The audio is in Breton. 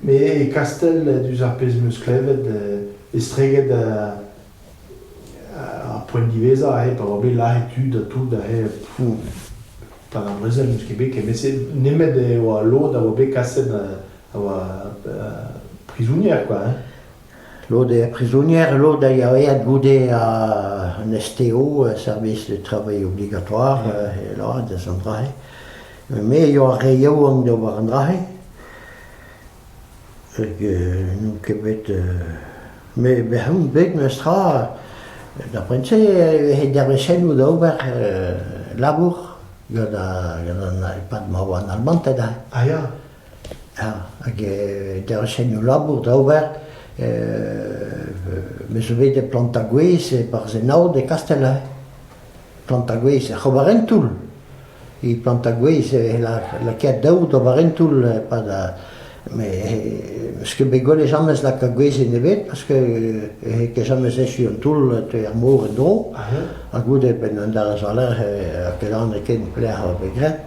Me, e Kastell, diouzh ar pezh 'm eus klevet, estreget ar poent diwezhañ aze pa oa bet lazhet tud ha tout aze, fou, pad ar brezel n'eus ket bet ken. Met nemet e oa lod a oa bet kaset, a oa prizonier, quoi. Lod eo prizonier, lod a ya aet goude an STO, service de travail obligatoire, da'z an dra-se. Me eo ar re yaouank d'ober an dra-se. Hag n'on ket bet... Me bec'h on bet memestra da poent-se e vefe dervezhennoù da ober labour gant an e-pad ma oa an Albanted aze. A ya? hag e darchenno labour da ober. Me zo bet e Plantagwez e Barzhennaod e Kastell-Have. Plantagwez ec'h ober un toull. E Plantagwez e lakaet daou d'ober un toull e-pad Meus ket bet gwelet jamez lakaat gwezenn ebet parce que n'eo ket jamez echu an toull teu er mor en-dro. Ha goude, penn an dazont a-lerc'h, ket anez ken pelec'h e vo graet.